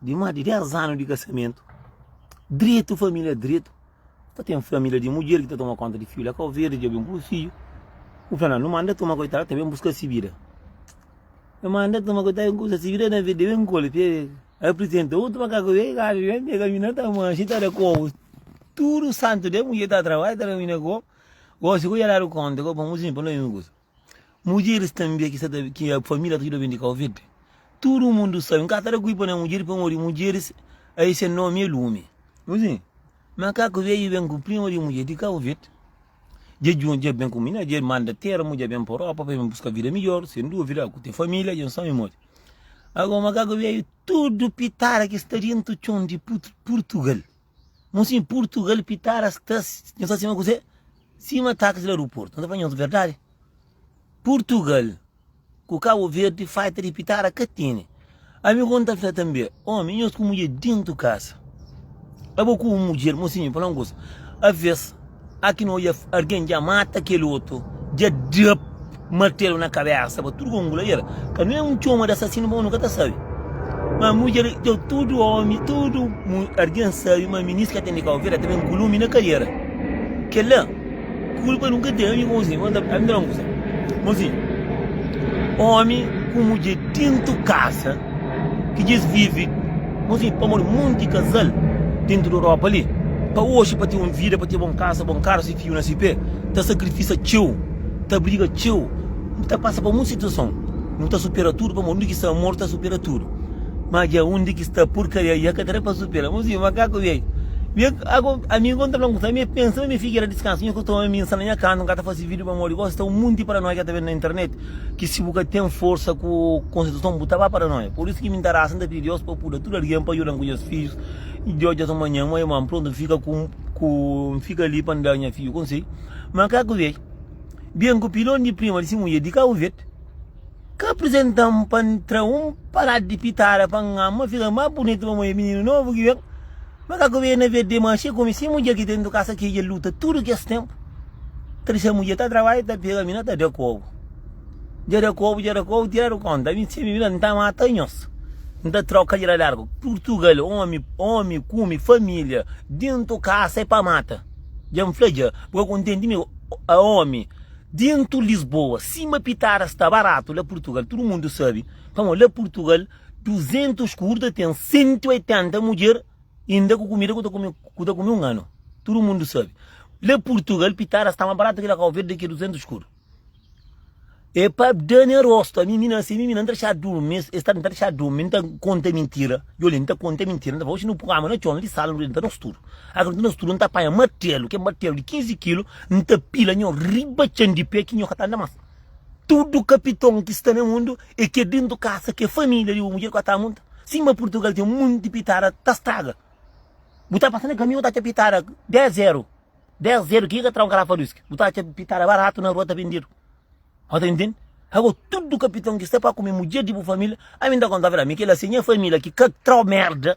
Di más di 10 anu di kasamentu, dretu família dretu ta ten família di mudjer ki ta toma kónta di fidju. La Kau Verdi dja ben ku dôs fidju. Bu fla, Nau, nu manda el toma koitadu, el ta ben buska si vida. Nu manda el toma koitadu, el buska si vida, na verdi, el ben kole pé. Aprizenta otu makaku ben kada di ben pega mina, ta manxa, ta da kobu. Tudu santu dia, mudjer ta trabadja, ta da mina kobu. Gósi ku el dja dadu kónta, ku el pamodi si pa no ben buska. Mudjeris tanbê ki sta ta ki família ta djuda ben di Covid. Tudu mundu sabe, N ka ta da kulpa na mudjeris pamodi mudjeris ai se nómi é lumi. Nu sin, Makaku Veju ben ku prima di mudjer di Covid. Dje djuntu, dje ben ku mina, dje manda termu, dje ben pa Europa pa ben buska vida midjor, sen duvida, ku te família, dje N sabe modi. Ago, Makaku Veju tudu pitara ki sta dentu txon di Purtugal. Mon sim purtugal pitara sta nho sta sima kuzê sima taxi la ruportu nho ta fla nhos verdadi purtugal ku cabo verde faita di pitara ka tene ami kon ta fla tanbê omi nhos ku mudjer dentu kasa abo ku un mudjer mon sim mi fla un kuza aves Aki no oia argen dja mata kel otu dja dap martelu na kabesa pa tudu gongula el ka no é un txoma da asasinu bom nu ka ta sabi ma mudjer dja tudu omi tudu argen sabi ma minis ka ten di kau vida ta ben ku lumi na kaiera kel la kulpa nu ka ten ami bo si ami ta ami ta fala un kusa bo si omi ku mudjer dentu kasa ki djis vive nos vive pamodi monti kazal dentu di europa li pa oxi pa ten un vida pa ten bon kasa bon karu si fiu na si pé ta sakrifisa txeu ta briga txeu nu ta pasa pa monti situason nu ta supera tudu pamodi undi ki sta amor ta supera tudu ma dja undi ki sta purkaria dja ka ta da pa supera nu sibi makaku bia bia agu amigu un ta fla-m kusé mi pensa ma mi figera diskansa mi ku toma mi nsala nha kantu n ka ta fase video pamodi gosi ta un monti paranoi ka ta ben na internet Ki si bu ka ten forsa ku konstituison bu ta ba paranoia. Por isu ki mi nta rasa, nta pidi Dios pa puda tudu algen pa judan ku nhas fijus i djoja es un manhan mo e ma nprontu nfika ku ku nfika li pa nda nha fiju konsei. Ma ka ku vei ben ku pilon di prima di si mudjer di Kabu Verde ka aprizentan pa ntra un paradi di pitada pa nganma fika mas bunitu pamodi e mininu novu ki ben. Ma ka ku bena ve dema xe ku mi si mudjer ki tentu kasa ki dja luta tudu kes tempu ta dexa mudjer ta trabadja ta pega mi na ta da kobu dja da kobu dja da kobu tiradu konta mi si mi vira nta mata nhos nta troka dja da largu purtugal omi omi kumi familia dintu kasa e pa mata dja n fla dja bu ka kontenti mi a omi dintu lisboa sima pitadas sta baratu la purtugal tudu mundu sabi pamo la purtugal 200 ku otu ta ten 180 mudjer inda ku kumida ku ta kume ku ta kume un anu tudu mundu sabe la purtugal pitara sta ma baratu kila kau verde ki 200 ku otu e pa dane rostu ami mi na se mi mi na nta dexadu durmi es es ta nta dexadu durmi nta konta mintira yo li nta konta mintira nta fala oxi nu pui kama na txon li sal nu denta nos tudu aker nta nos tudu nta panha martelu ke martelu di 15 kilu nta pila nho riba txan di pé ki nho ka ta anda mas Tudu kapiton ki sta na mundu e ke dintu kasa ke familia di bu mudjer ku ata munta. Sima Purtugal ten munti pitada ta straga. Bu ta pasa na kamion ta atxa pitada 10 eru. 10 eru ki ka tra un karafa di uski. Bu ta atxa pitada baratu na rua ta bindidu. Bo ta intendi? Ago tudu kapiton ki sta pa kume mudjer di bu familia ami nta kontaba el ami kila se nha familia ki ka tra merda.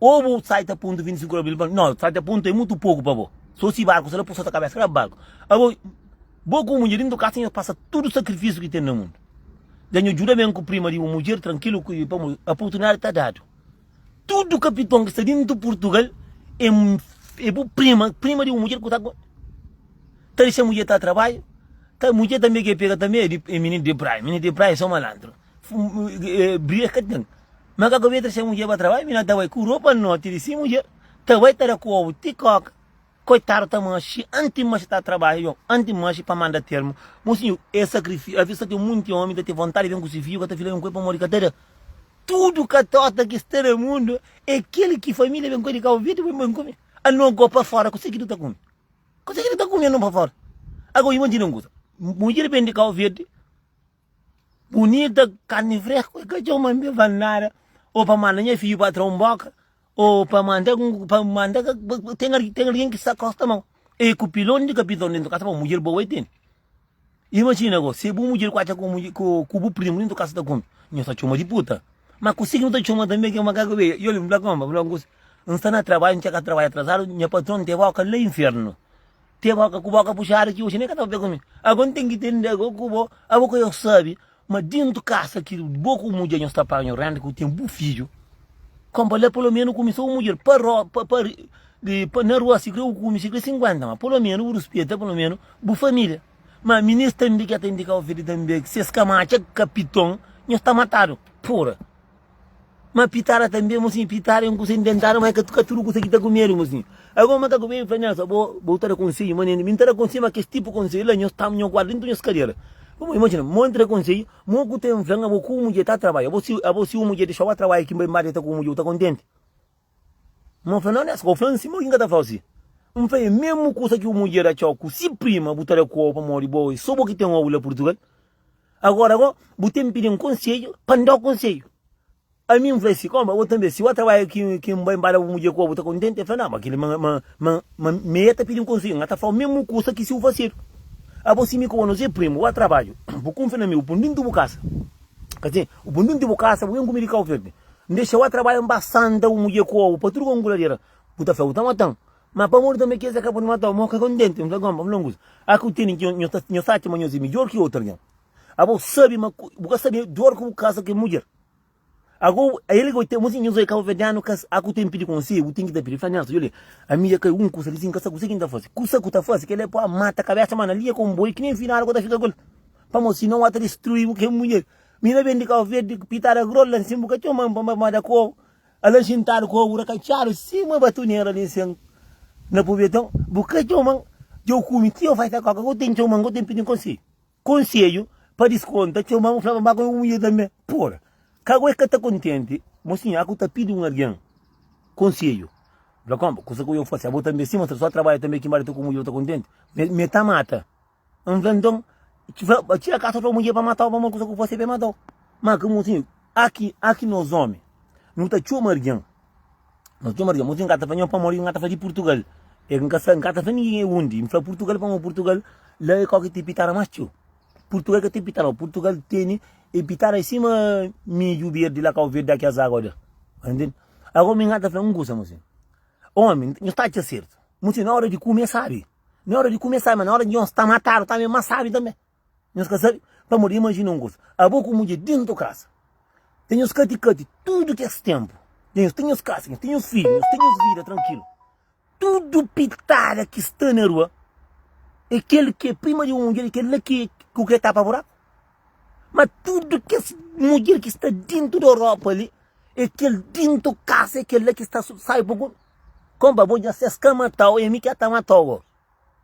Ô bu sai ta punta 25 ora bil fla no sai ta punta é mutu poku pa bo so si barku sla pusa ta kabesa kla barku abo bo ku mudjer dintu kasa nhos pasa tudu sakrifisiu ki ten na mundu dja nhos djuda ben ku prima di bu mudjer trankilu ku pamodi oportunidadi ta dadu tudu kapiton ki sta dintu purtugal é é bu prima prima di bu mudjer ku ta ta dexa mudjer ta trabadju ta mudjer tanbe ke pega tanbe é mininu di prai mininu di prai é so malantru. briga ka ten. Ma ka ku Beatriz se mudjer ba trabadja, mi na ta bai ku ropa noti di si mudjer, ta bai ta da ku ovu ti koka. Koitadu ta maxi anti maxi ta trabadja djon, anti maxi pa manda termu. Mon sinhur, e sakrifisiu, aves ta ten munti omi ta ten vontadi di ben ku si fiju ka ta fila ben ku el pamodi ka ta da. Tudu katota ki sta na mundu e kel ki familia ben ku el di Kabo Verde ben ku mi. Anon go pa fora kuse ki nu ta kumi? Kuse ki nu ta kumi anon pa fora? Ago imajina un kusa, mudjer ben di Kabo Verde. Bunita carne fresco e ka txeu ma nbe vale nada o pa manda nha fidju pa tra un boka o pa manda pa manda ten ten algen ki sa kosta mau e ku pilon di kapiton dentu kasa pa mudjer boa e tene imajina go se bu mudjer kuacha ku mudjer ku bu primu dentu kasa ta kume nho ta txoma di puta ma ku si ki nu ta txoma tanbe ke ma kaka be yo li nfla koma nfla ku si nsta na trabadju nka ka trabadja atrasadu nha patron te boka la infernu Te boka ku boka puxadu ki oxi ne ka tava pé ku mi. Ago n ten ki tende ago ku bo. Abo ka yo sabi ma dentu kasa ki bo ku mudjer nho sta paga nho renda ki yo ten bu fidju. Kon pa la pulomenu kumi so un mudjer pa ro pa pa di pa na rua si kre u kumi si kre sinkuenta ma pulomenu u rispeta pulomenu bu familia. Ma mi nes tambi ka ten di ka oferi tambi ses ka matxa kapiton nho sta matadu pura. Ma pitara tanbe mosinhu, pitara é un kusa inventadu, ma é ka tudu kusa ki ta ku medu mosinhu. Algun makaku bebe fla nhos, Abo, bo ta da konsedju, ma nen, mi n ta da konsedju, ma kes tipu konsedju la nhos tamba, nhos guarda dentu nhos kadera. Bo imajina, ma un ta da konsedju, ma un ku ten fla-m, Abo, ku un mudjer ta trabadja, abo, si un mudjer dexau-u ba trabadja ki n bai nbada el ta ku un mudjer, bu ta kontenti? N fla, Nau, nes ka bu fla-m si, ma bu ki N ka ta fla-u si? N fla, E mesmu kusa ki bu mudjer ta txau ku si prima, bu ta da ku-u pamodi bo é so bo ki ten obi la Purtugal. Agora go, bu ten pidi-m konsedju, pa N da-u konsedju. Ami N fla si, Koma, bo tanbe, si bo trabadja ki ki N bai nbada bu mudjer ku-u, bu ta kontenti? El fla, Nau, ma kili, ma, ma, ma, ma, ma el ta pidi-m konsedju, N ka ta fla-u mesmu kusa ki si bu fasedu. Abo, si mi ku bo nos é primu, bo trabadju, bu kunfia na mi, bu pun dintu bu kasa, ka sin? Bu pun dintu bu kasa, bu ben ku mi di Kauverdi. N dexa-u a trabadja, N ba santa ku mudjer ku obu pa tudu konguladera. Bu ta fla, Bu ta mata-m. Má pamodi tanbê kes é ka pode mata-u. Má N ka kontenti. N fla, Gonba, fla-m kusa. Â ki bu tene ki nhos ta atxa ma nhos é midjór ki otu algen. Abo sabe ma bu ka sabe di óras ki bu kaza ku kel mudjer. Ago, el ka ten. Mon si nhos é kabuverdianu, ka â ki bu ten ki pidi konsedju. Bu ten ki ta pidi. L fla, Nelson, djolê, ami dja kai un kusa li sin ka sabe kuzê ki N ta faze. Kusa ki bu ta faze, kel-li é pô-a mata kabésa, ma na linha konboiu ki nen finadu ka bu ta fika ku el. Pamodi sinau â ta destrui-bu ku kel mudjer. Mi na ben di Cabo Verde ku pitada grol la nsin, bu ka txoma-m pa mamada ku ovu, ala xintadu ku ovu rakatxadu sima batuneira li nsin na pubeton. Bu ka txoma-m, dja-u kume ti au fai ta koka. Kau ten txoma-m, kau ten pidi-m konsedju. Konsedju? Pa diskonta, txoma-m, fla-m pa ba ku un mudjer tanbe. Pura! Kau e ka ta kontenti? Mo sinhor, aku ta pidi un argen konsedju. Fla, Konpa, kusa ku eu fasi, abo tanbe sima, sô trabadja tanbe ki maridu ku mudjer bu ta kontenti? Mi e ta mata. N fla, Nton, tira kasa to mudjer pa mata-u pamodi kusa ku bu fase ben mata-u. Má ki mosin, aki, aki nos ómi, nu ta txoma algen, nu ta txoma algen. Mosin ka ta fla nho pamodi N ka ta fla di Purtugal. El N ka sa, N ka ta fla ningen e undi. N fla Purtugal pamodi Purtugal la é kau ki ten pitada más txeu. Purtugal ka ten pitada. Purtugal tene e pitada sima midju berdi la, kau verdi, kes agu li. Tá intende? Ago mi N ka ta fla un kusa, mosin. Ómi, nho sta atxa sertu. Mosin, na óra di kume, sabe. Nha hora di kume sabi, ma nha hora di nhos ta matadu tanbe mas sabi tanbe. Nhos ka sabi pamodi imajina un kuza, abo ku mudje dentu kasa ta nhos kati kati tudu kes tenpu, dja nhos ten nhos kasa, nhos ten nhos fidju, nhos ten nhos vida trankilu. Tudu pitada ki sta na rua e kel ki e prima di un mudje, kel la ki ku ke tapa buraku. Ma tudo kes mudjer ki sta dintu di Europa li e kel dintu kasa e kel la ki sta sai pa ku Konpa bo dja ses ka matau e mi ki ata matau bo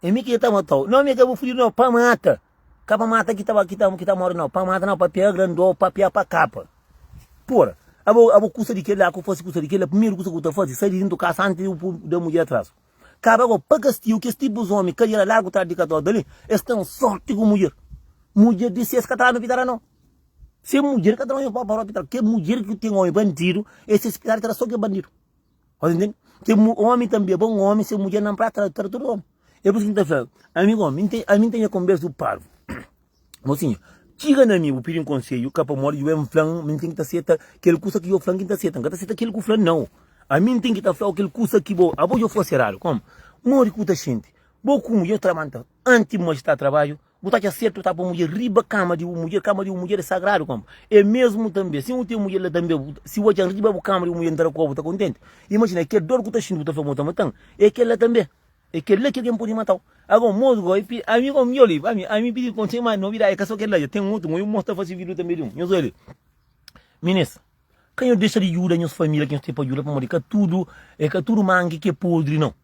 e mi ki ata matau no mi ka bu fudidu no pa mata ka pa mata ki ta ki ta ki ta mori no pa mata no pa pia grandô pa pia pa kapa pura abo abo kusa di kel la ku fasi kusa di kel la primeru kusa ku ta fasi sai di dintu kasa antis di bu da mudjer atras. Kaba gó, pa kastigu kes tipus omi ka dera largu trás di katóda li, es ten sórti ku mudjer. Mudjer di ses ka ta ranu pitara no. Se mudjer ka ta omi pó pa ró pitara. Ke mudjer ki ten omi bandidu, e ses pitara ta da so ke bandidu. Ota ntende? Ke mu, omi tanbe é bon omi, se mudjer na prasa ta da tudu omi. E por isu ki mi ta fla-l, Ami gó, ami, ami ten nha konbersa ku parvu. Mosinha, txiga na mi bu pidi-m konsedju, ka pamodi dju N fla-m ma N ten ki ta seta kel kusa ki djo fla-m ki N ta seta. N ka ta seta kel ki bu fla-m nau. Ami N ten ki ta fla-u kel kusa ki bo. Abo djo fase eradu. Komu? Modi ki bu ta xinti? Bo ku mudjer tra manta anti bu majestadi trabadju? Bu ta atxa sertu tapa mudjer riba kama di bu mudjer? Kama di bu mudjer e sagradu. Komu? E mesmu tanbe, si N ten mudjer la tanbe, si bu atxa-m riba bu kama di bu mudjer N ta da ku abo bu ta kontenti? Imajina, kel dor ki bu ta xinti, bu ta fla ma bu ta mata-m, e kel la tanbe. É kel-la ki algen pode mata-u. Ago, mos go, i ami go, mi ol li, ami, ami pidi kon txeu más novidadi, ka so kel-la dja, ten otu go, i mos ta fase vidu tanbe di un. Nhos oja li. Minês, ka nhos dexa di djuda nhos família ki nhos ten pa djuda, pamodi ka tudu, e ka tudu mangi ki é podri nau.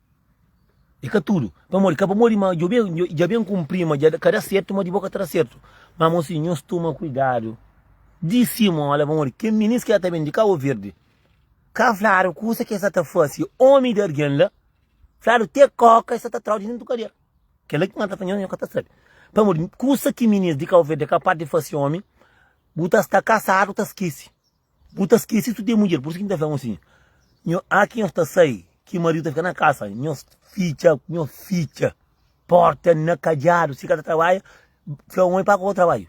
E ka tudu. Pamodi, ka pamodi ma djo ben, djo, dja ben kunpri ma dja ka da sertu, ma di bo ka ta da sertu. Má mos fidju, nhos toma kuidadu di simola, pamodi kel minês ki sta ta ben di Kaboverdi, ka fladu kusa ki el sta ta fase, ómi di algen la, Fladu te koka e sa ta trau di dentu kadera. Kela ki mata fanhosa nho ka ta sabi. Pamodi kusa ki minis di Kauverde e kapaz di fasi omi, bu ta sta kasadu ta skisi. Bu ta skisi si bu ten mudjer. Pur isu ki N ta fla-bu asin, nho a ki nho sta sai, ki maridu ta fika na kasa, nho fitxa, nho fitxa porta na kadiadu. Si ka ta trabalha, fla omi pa ku ka bu trabadju.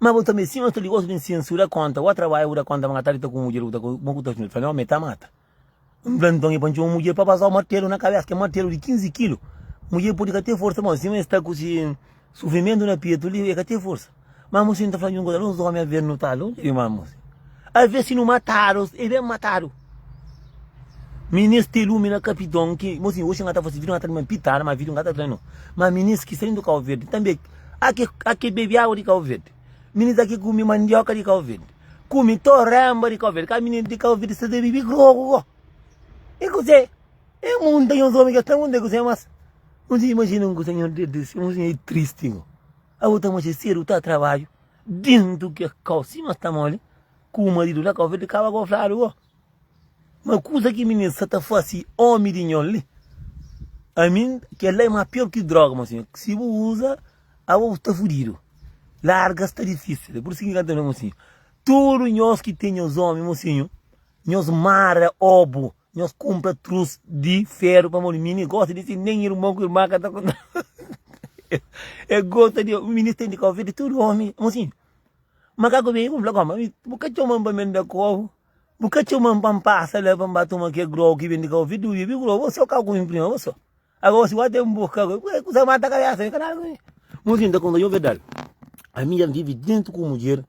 Ma bu ta meste mostra digostu di N sensura kónta bo. Trabadja bu da kónta ma N ka ta dita ku un mudjer ku bu ta kontinua ta fla-m, Ome, e ta mata. N fla, Nton, e pa N txoma un mudjer pa bazau martelu na kabesa. Kel martelu di 15 kilu. Mudjer pode ka ten forsa mau, sima es sta ku si sufrimentu na petu li, e ka ten forsa. Ma Museo, N ta fla-u un kuza, algúns ómi a ben nutadu, N ta di, Ma Museo, alvês si nu matadu, e ben matadu. Mi neste lumi na kapidon ki mo si oxi nga ta fasi vidu nga ta di ma pitada ma vidu nga ta tra no ma mi nes ki saindo kau verdi tambe ake ake bebi awa di kau verdi mi nes ake kumi mandioka di kau verdi kumi toremba di kau verdi ka mi nes di kau verdi sa ta bibi grogu ko e kuse e munta nhos omi ke ta munta e kuse mas mo si imajina un kusa nhos dede si mo si e tristi ko abo ta maxe sedu ta trabadju dintu ke kau si mas ta moli Ku maridu na ka ofende kaba go fladu go ma kusa ki mininu sa ta fasi omi di nhon li ami kel la e ma pior ki droga mo sinhu si bu usa abo bu sta fudidu larga sta difisil e pur isu ki kanta no mo sinhu tudu nhos ki ten nhos omi mo sinhu nhos mara obu nhos kunpra trus di feru pamodi mini gosta di si nen irmon ku irma ka ta e gosta di mini sta di ka ofende tudu omi mo sinhu Makaku ben ku-m fla, Koma, ami bu ka txoma-m pa mende kovu, bu ka txoma-m pa-m pasa la pa-m ba toma ke grogu ki ben di kau. Fidu, i bi grogu bo so, kau ku mi prima bo so. Agosi bo até mboka agosi. Ku e kusa ki mata kabesa mi, ka nada ku mi. Mosin ta konta, Yo berdadi, ami dja-m vive dentu ku mudjer,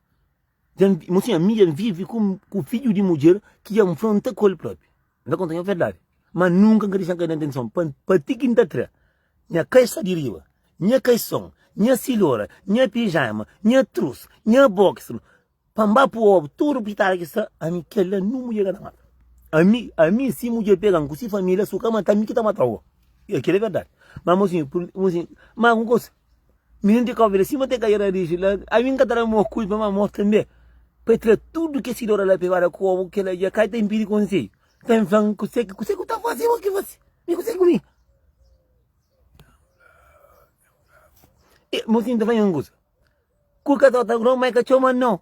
dja-m, mosin, ami dja-m vive ku fidju di mudjer ki dja nfronta ku el propi. N ta konta nha verdadi Má nunka N ka dexa-m kai na tentason Pa N pa ti ki N ta tra nha kai Só di riba nha kaison Nha silhora nha pijama Nha trus nha boxer Pa N ba pô obi tudu pitadu ki sta ami Kel-la nu mudjer ka ta mata ami Ami si mudjer pega-m ku si família Su ka mata-m mi ki ta mata-u Kel-la é verdadi Má amosinhu Má ku un kusa. Mininu ti kóbia la sima te kadia na riju la ami n ka ta da amor kuji pa mi amor tanbe pa e tira tudu kes ki dora la pa e bada ku obu kila dja kai ta inpidi konseiu ta mi fla-m kuse ki kuse ki bu ta fase bo ki fase mi kuse ku mi e mosi n ta fla-m un kusa ku ka ta ota ku no mai ka txoma no.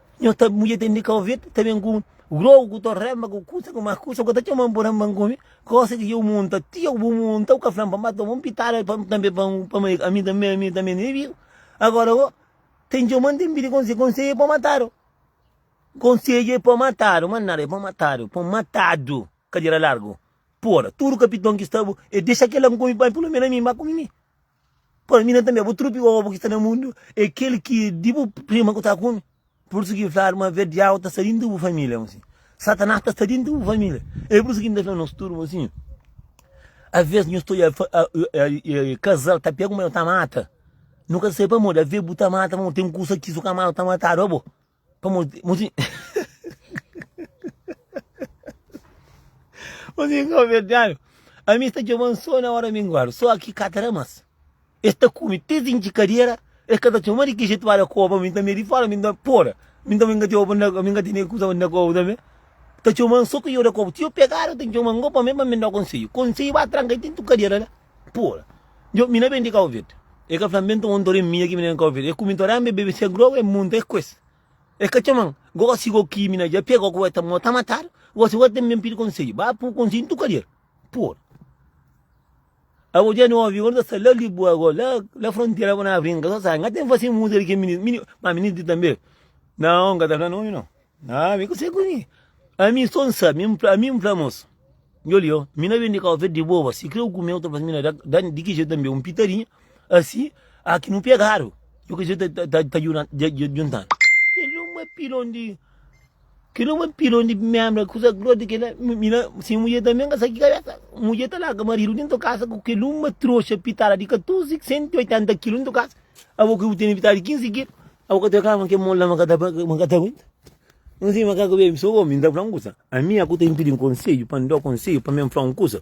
Nho ta mudje ten di ka ouvir ta ben ku grou ku to rema ku kusa ku mas kusa ku ta txoman bu rema ku mi kosa ki eu munta ti eu bu munta u ka flam pa ma toma un pitada pa tanbe pa pa ma ami tanbe ami tanbe ne viu agora o ten txoman ten pidi konse konseje pa matadu konseje pa matadu ma nada e pa matadu pa matadu kadera largu pora tudu kapiton ki sta bu e dexa kelan ku mi bai pulumenu ami ba ku mi mi. Pô, mina também, bu trupi obu ki sta na mundu é kel ki é di bu prima ku ta kume. Por isso ki fladu ma ver diabo ta sta dintu di bu familia mosi. Satanás ta sta dintu di bu familia. É por isso ki mi ta fla nos tudu mosi, às vezes nhos ta oia casal ta pega un ta mata, nu ka sai pamodi, às vezes bu ta mata pamodi ten kusa ki so ka mata ta matadu abo. Pa mozinho. Mozinho kau verdianu. Ami sta txoman so na ora minguadu. So aki ka ta da mas. Es ta kume ti sin ki kadera. Es ka ta txoma di ki jetu ba da koba. Mi ta mia di fora mi ta pora. Mi ta mingati oba na mi ngati ne kusa na koba tambe. Ta txoman so ki yo da koba. Ti yo pegada ta txoman go pa mi pa mi da konseyu. Konseyu ba tranka i tintu kadera la. Pura. Djo, mi na ben di Cabo Verde. E ka fla-m, ben toma un toré minha ki mi na ben Cabo Verde. E kume toré, mi bebe se groga, e munta, e kues. E ka txoma-m. Gosi go ki mi na dja pega, gosi go e ta mota matadu, gosi go ten ben pidi konsedju. Ba pur konsedju na tuka djer. Pura. Abo dja na obi, go na ta sta la Liboa go, la, la frontera bo na brinka, so sabe, n'ka ten fase muza di ke minis, mini, ma minis di tambe, nao, n'ka ta fla nomi nao. Ah, mi konsegi ku mi. Ami só N sabe, mi fla, ami N fla mosu, Djoli yo, mi na ben di kau feti di boba, si kre u kume u ta fla-m, mi na da di ki jetu tanbe un pitadinha, asi a ki nu pegadu, yo ki jetu ta ta djuntadu. Kel-li é un mapilon di, kel-li é un mapilon di mébra, kusa gross di kel-la, mi na, si mudjer tanbe ka sa ki kabésa, mudjer ta larga maridu dentu kasa ku kel-li, un matroxa pitada di 14, 180 kilu dentu kasa. Abo ki bu tene metadi di 15 kil, abo ka ta kla ma kel mon la ma ka ta ma ka ta aguenta? N sibi ma ka kabe mi so omi, N ta fla un kusa, ami a ku ta inpidi-m konsedju pa N da-u konsedju pamia N fla un kusa?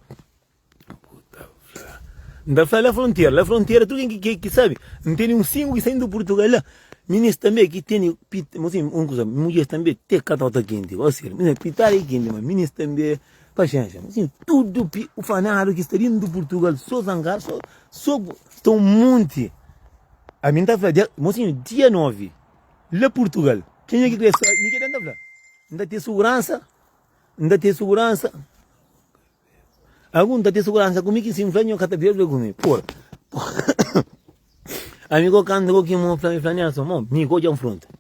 Abo ta fla, N ta fla la frontera, la frontera tudu ken ki ki sabe, N tene un singu ki sai di Purtugal la, minis tanbe ki tene pit, mo sinbi un kusa, mudjeris tanbe te ka ta ta kenti, gosi di el, pitara i kenti, ma minis tanbe. Paxénxa, ma sim tudu pi ufanadu ki sta dintu di Purtugal, so zangadu, so, so ta un monti. Ami N ta fla dia, mosinhu, dia 9, la Purtugal, kenha ki krê sabe, mi ke da N ta fla? N ta ten suguransa, N ta ten suguransa, agu N ta ten suguransa ku mi ki si N fla nho ka ta bebe ku mi, pura. Ami ko kanta ko ki mo fla, mi fla Nelson, mo mi ka odja N fronta.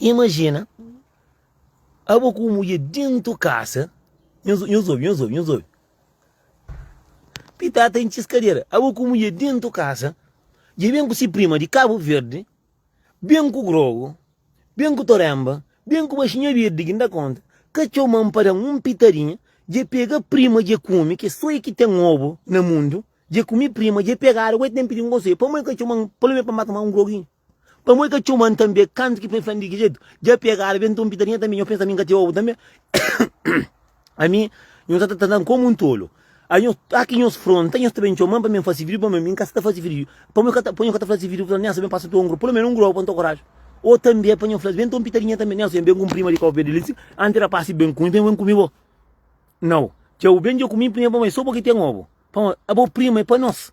Imajina abo ku un mudjer dentu kasa, nhos nhos obi, nhos obi, nhos obi. Pita ta intxis kadera, abo ku un mudjer dentu kasa, dja ben ku si prima di Kabu Verdi, ben ku grogu, ben ku toremba, ben ku baxinha birdi ki nda konta, ka txoman pa dan un pitadinha, dja pega prima dja kumi, ke so e ki ten obu na mundu, dja kumi prima, dja pegadu, agora e ten pidi un konselhu, pamodi ka txoman pelo men pa mba toma un groginhu. Pamodi ka txoman tanbe kantu ki poi fla-m di ki jetu? Dja pegadu be nton pita linha tanbe nho pensa mi ka txeu obu tanbe ami nho sa ta trata-m komu un tolu ai nho ai ki nhos fronta nhos ta ben txoman pa mi fase firiu pamodi mi ka sa ta fase firiu pamodi ka ta pamodi ka ta fase firiu fla-m nélson ben pasa tuangu pulu menos un gruau pa nto koraji o tanbe pa nho fla-s ben nton pita linha tanbe nélson nho ben ku un prima di kau verdi li anti el ta pase ben ku mi ben ku mi bo nau txeu ben dja ku mi prima pamodi so bo ki ten obu pamodi abo prima é pa nos.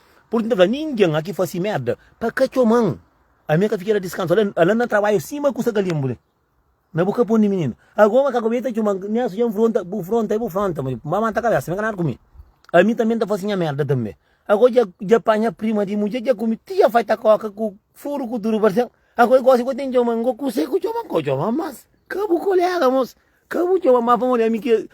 Purtu N ta fla, Ningen aki fase merda pa ka txoma-m. Ami N ka fika na diskansu ala, ala N na trabadja sima ku sa ka linbu li na bu kapun di mininu. Ago ma ka kube, i ta txoma-m, mi asu dja N fronta, bu fronta, i bu fronta, ma N ba manta kabesa, mi ka nada ku mi. Ami tanbe N ta fase nha merda tanbe. Ago dja dja panha prima di mudje, dja kume ti dja faita koka ku furu ku tudu, parse-m ago i gosi, ago i ten txoma-m, ago kuse ku txoma-m, ka bu txoma-m mas, ka bu kolega mos, Ka bu txoma ma pa modi ami ki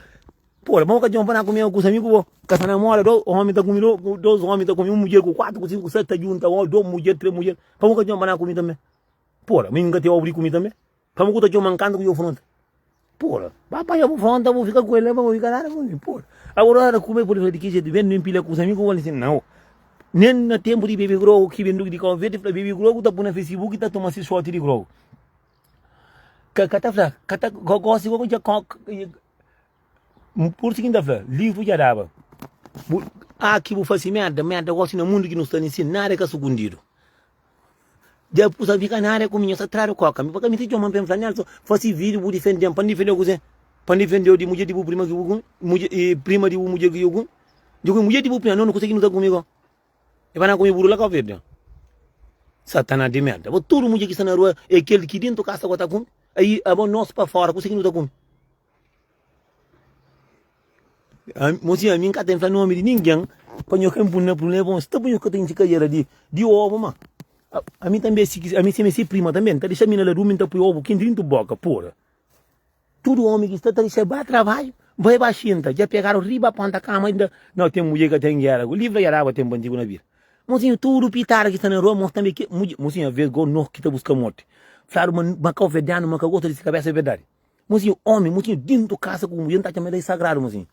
Pô, la bo ka txoma pa na kume ku kusa mi ku bo Ka sa na moda dos omi ta kume dos omi ta kume un mudjer ku kuatu ku sinku ku seti ta djunta omi dos mudjer tres mudjer pa bu ka txoma pa na kume tanbe Pô, la mi mi ka ten obi di kume tanbe pa bu ku ta txoma-m kantu ku djo fronta Pô, la ba panha bu fronta bu fika ku el la pa bu fika la Pô, la bu ora kume pode fla di ki jetu ben ben pila kusa mi ku bo li si nau Nen na tenpu di bebe grogu ki ben duki di konfeti fla bebe grogu ta pui na fesibuki ta toma si soti di grogu. Ka ka ta fla, ka ta ka gosi igual ku dja ka N kurti ki N ta fla, livru dja daba. Bu aki bu fasi merda, merda gosi na mundu ki nu sta ninsi nada ka sugundidu. Dja bu sa fika nada ku mi, nhos ta tradu koka mi pa ka mi ta txoma-m pa N fla Nelson fasi vidiu bu difende-m. Pa N difende-u kuzê? Pa N difende-u di mudjer di bu prima ki bu kume? Mudjer, prima di bu mudjer ki dja kume? Dja kume mudjer di bu prima? Nau, nu kusa ki nu ta kume-go. E ba na kume buru la ka obidu? Satanas di merda. Bo tudu mudjer ki sta na rua e kel ki dentu kasa bo ta kume. Ai abo nos pa fora kuse ki nu ta kume? Mo si ami n ka ta infla nomi di ningen pa nho ka inpun na prubléma bon sta pa nho ka ta intxi kajera di obu ma ami tanbe ami sima si prima tanbe n ta dexa mi na ladu mi n ta pui obu ki drintu boka pura. Tudu omi ki sta ta resebâ trabadju, bai ba xinta, dja pegadu riba ponta kama i inda nau ten mudjer ki ka ten gera ku livra i araba tenpu antigu na bira. Mosinha, tudu pitada ki sta na rua mostra tanbe ki mudjer, mosinha, vez go no ki ta buska morti, fladu ma ma kau vedanu ma ka gosta di si kabesa, e verdadi. Mosinha, omi, mosinha, dintu kasa ku mudjer, no ta atxa ma el é sagradu, mosinha.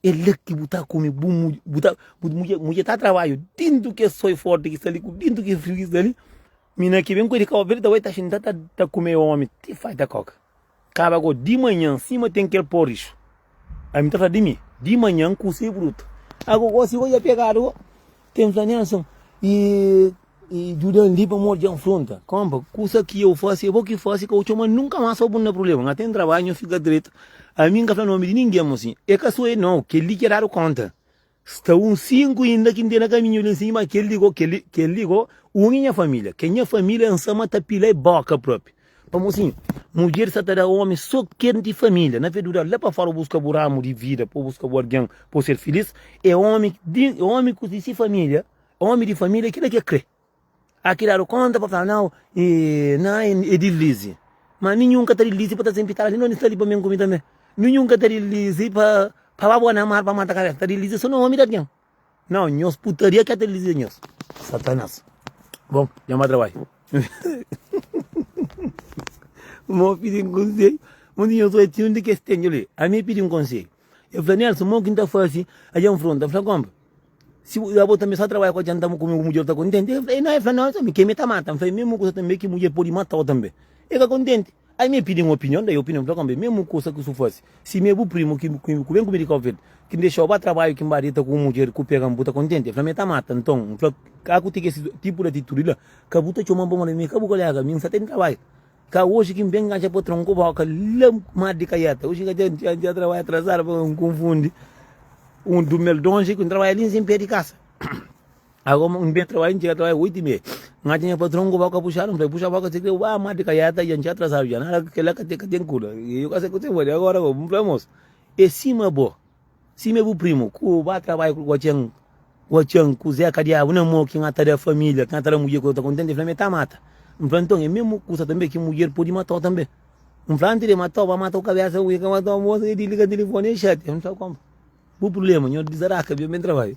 É la ki bu ta kome bu mudje, bu ta, bu mudje, mudje ta trabadju dentu kes soi forti ki sta li, ku dentu ki friu ki sta li, mi na ki ben koi di Kabo Verde ta bai ta xinta ta ta kume omi ti fai ta koka. Kaba go di manhan sima ten kel porridge, ami ta fla di mi di manhan kuzê brutu, agogo si go dja pegadu go. Ten fla nen asin. I i djudan li pa modi djan fronta. Kompa, kusa ki eu fasi, e bo ki fasi, ka u txoma nunka mas pa bu na prublema. Nha ten trabadju, nha fika dretu. Ami nka fla nomi di ningen mo sin. E ka so e nau, kel li ki e dadu konta. Sta un sinku inda ki ntena kaminhu li nsin, ma kel li go, kel li, kel li go, un i nha familia. Ke nha familia nsa ma ta pila e boka propi. Pamo sin, mudjer sa ta da omi so kel di família. Na veduda, la pa fora bu buska bu ramu di vida, pa bu buska bu algen pa bu ser filís. E omi di omi ku di si família, omi di família, kila ki el kre. A ki ladu konta pa fla, nau, e na e dilisi. Ma ami nhun ka ta dilisi pa ta sen pitala li, no ni sta li pa ben ku mi tanbe. Mi nhun ka ta dilisi pa pa ba bo na mar pa mata kabesa, ta dilisi so na omi di algen. Nau nhos putaria ka ta lizia nhos satanas bon nha ma trabai mo pidi un konselho un di nhos otinhu di kes tenju li ami pidi un konselho e fla Nelson mo kin ta fasi a dja nfronta fla konpa si bo abo tambi sa trabai ku adianta bo kuma bo mudjer ta kontenti e nau e fla Nelson mi ke mi ta mata fla e memu kusa tambi ki mudjer pudi matau tambi e ka kontenti Ai mi pidi un opinion, dai opinion, fla kombe, mesmu kusa ki su fasi, si mi e bu primu ki ku ben ku mi di Cabo Verde, ki N dexau ba trabaiu ki N ba deta ku un mudjer ku pega-m, bu ta kontenti? E fla-m, e ta mata. Nton, N fla, ka ku tigi esi tipu di atitudi la, ka bu ta txoma-m pa modi mi ka bu kolega, mi N sa ta di trabai. Ka oji ki N ben kanxa patron ku boka la ma di kaieta, oji ka dja N txia trabai atrasadu, pa N konfundi un dumeldonji ku N trabai li nsin pé di kasa. Ago n ben trabadja, n txiga trabadja oitu i mei, n atxa nha patron ku boka puxadu, n fla-i, puxa boka si kre, ua, mati ka yata dja, n txiga atrasadu dja, nada, kel la ka ten, ka ten kuda, i yo ka sai ku se fla-i, agora ago, n fla-i, amosu, e sima bo, sima e bu primu, ku ba trabadja ku guatxan, guatxan, ku zeka diabu, na mo ki na ta da familia, ki na ta da mudjer ku ta kontenti, el fla-mi, e ta mata, n fla-i, nton, e mesmu kusa tanbe ki mudjer pudi mata-u tanbe, n fla, antis de mata-u, ba mata ku kabesa, ui, ka mata-u, amosu, e disliga telefoni, e xatia, n fla, konpra, bu prubléma, nhos disaraka, ben, ben trabadja.